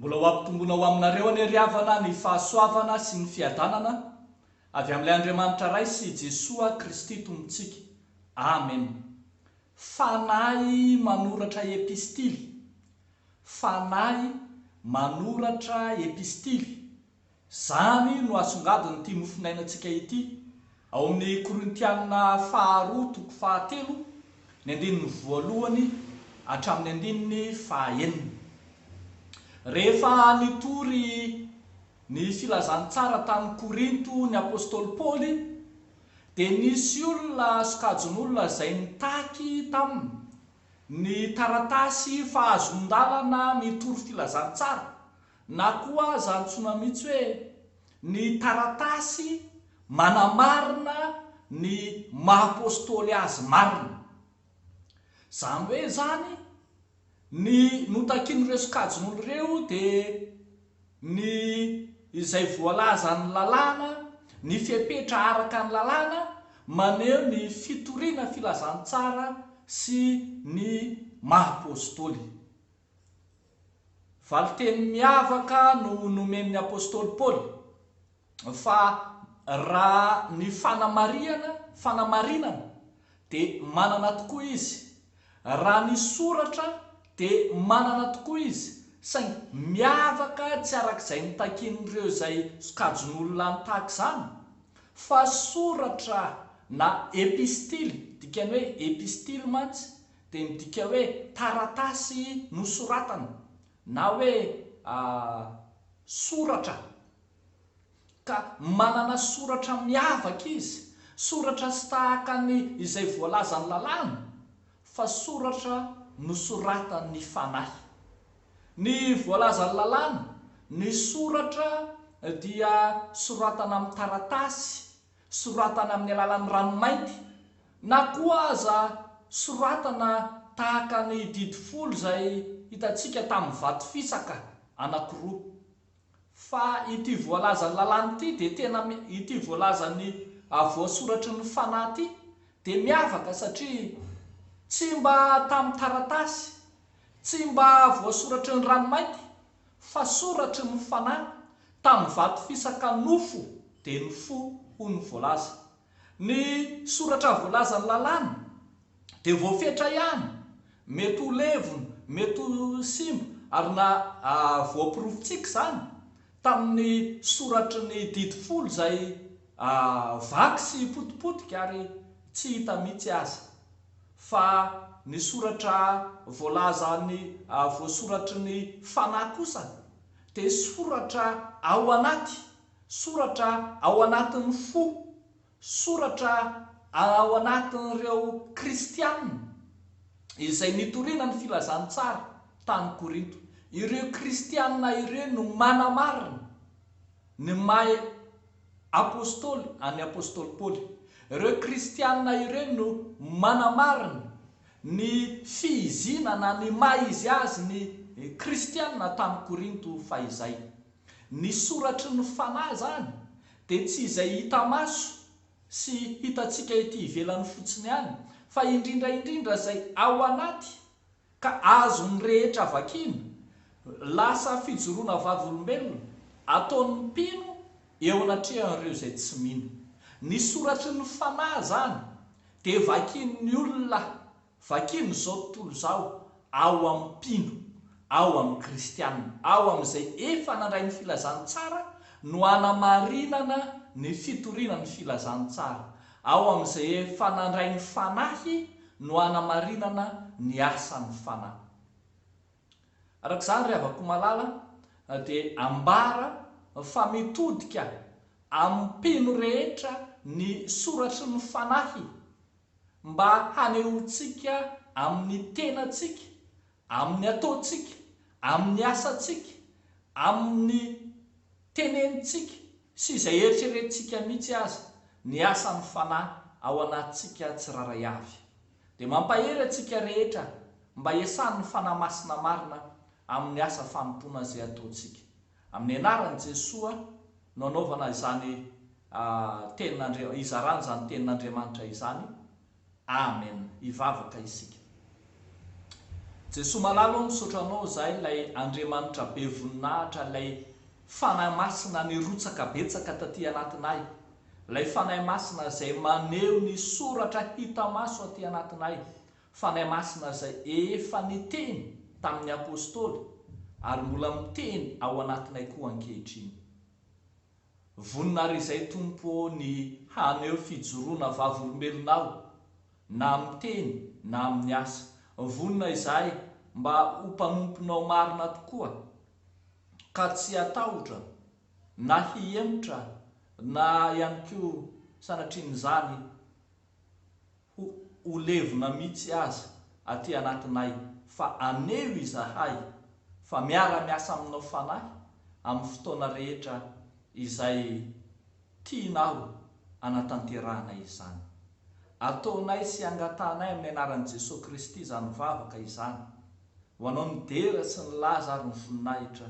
Mbola ho ampitombona ho aminareo anie ry havana ny fahasoavana sy ny fiadanana avy amin'ilay Andriamanitra Ray sy Jesoa Kristy Tompontsika. Amen. Fanahy manoratra epistily fanahy manoratra epistily. Izany no asongadin'ity mofonainantsika ity ao amin'ny Korintiana faharoa toko fahatelo, ny andininy voalohany hatramin'ny andininy fahaenina. Rehefa nitory ny filazantsara tany Korinto ny apostoly Paoly, dia nisy olona sokajin'olona izay nitaky taminy. Ny taratasy fahazon-dalana mitory filazantsara, na koa aza antsoina mihitsy hoe ny taratasy manamarina ny maha-apostoly azy marina. Izany hoe izany, ny notakin'ireo sokajin'olo ireo dia. ny izay voalazan' ny lalàna, ny fepetra araka ny lalàna maneho ny fitoriana filazantsara sy ny maha Apôstôly. Valinteny miavaka no nomen' ny Apôstôly Paoly. fa raha ny fanamarihana, fanamarinana, dia manana tokoa izy, raha ny soratra dia manana tokoa izy, saingy miavaka tsy arak'izay notakian'ireo izay sokajin'olona nitaky izany, fa soratra na epistily, dikany hoe epistily mantsy dia midika hoe taratasy nosoratana, na hoe soratra. ka manana soratra miavaka izy, soratra tsy tahaka ny izay voalazan'ny Lalàna, fa soratra nosoratan'ny Fanahy. Ny voalazan'ny Lalàna, ny soratra dia soratana amin'ny taratasy, soratana amin'ny alalan'ny ranomainty, na koa aza soratana tahaka ny Didy Folo izay hitantsika tamin'ny vato fisaka anankiroa. Fa ity voalazan'ny lalàna ity dia tena ity voalazan'ny voasoratry ny fanahy ity dia miavaka satria tsy mba tamin'ny taratasy, tsy mba voasoratry ny ranomainty fa soratry ny fanahy tamin'ny vato fisaka nofo dia ny fo hoy ny voalaza. Ny soratra voalazan'ny lalàna dia voafetra ihany, mety ho levona, mety ho simba, ary na voaporofontsika izany tamin'ny soratry ny didy folo izay vaky sy potipotika ary tsy hita mihitsy aza, fa ny soratra voalazan'ny voasoratry ny fanahy kosa dia soratra ao anaty. Soratra ao anatin'ny fo, soratra ao anatin'ireo Kristianina izay nitoriana ny filazantsara tany Korinto. Ireo Kristianina ireo no manamarina ny maha apostoly an'i apostoly Paoly. Ireo Kristianina ireo no manamarina ny fihiziana na ny maha izy azy ny Kristianina tany Korinto fahizay. Ny soratry ny Fanahy izany dia tsy izay hita maso sy hitantsika ety ivelany fotsiny ihany, fa indrindra indrindra izay ao anaty ka azon'ny rehetra vakiana, lasa fijoroana vavolombelona ataon'ny mpino eo anatrehan'ireo izay tsy mino. Ny soratry ny Fanahy izany dia vakian'ny olona Vakino izao tontolo izao ao amin'ny mpino, ao amin'ny kristiana, ao amin'izay efa nandray ny filazantsara no hanamarinana ny fitoriana ny filazantsara, ao amin'izay efa nandray ny Fanahy no hanamarinana ny asan'ny Fanahy. Araka izany, ry havako malala, dia ambara fa mitodika amin'ny mpino rehetra ny soratry ny Fanahy. mba hanehoantsika amin'ny tenantsika, amin'ny ataontsika, amin'ny asantsika, amin'ny tenenintsika sy izay eritreretintsika mihitsy aza ny asan'ny Fanahy ao anatintsika tsirairay avy. Dia mampahery antsika rehetra mba hiasan'ny Fanahy Masina marina amin'ny asa fanompoana izay ataontsika. Amin'ny anaran'i Jesoa no anaovana izany tenin'Andria, hizarana izany tenin'Andriamanitra izany. Amen. Hivavaka isika. Jesoa malala ô, misaotra Anao izahay, ilay Andriamanitra be voninahitra, ilay Fanahy Masina nirotsaka betsaka taty anatinay, ilay Fanahy Masina izay maneho ny soratra hita maso aty anatinay, Fanahy Masina izay efa niteny tamin'ny Apostoly ary mbola miteny ao anatinay koa ankehitriny. Vonona àry izay Tompo ô ny haneho fijoroana vavolombelonao na amin'ny teny na amin'ny asa. Vonona izahay mba ho mpanomponao marina tokoa ka tsy hatahotra na hihemotra na ihany koa sanatrian'izany. Ho ho levona mitsy aza aty anatinay fa aneho izahay fa miara miasa aminao fanahy amin'ny fotoana rehetra izay tianao anatanterahana izany. Ataonay sy angatahanay amin'ny anaran'i Jesoa Kristy izany vavaka izany ho anao ny dera sy ny laza ary ny voninahitra.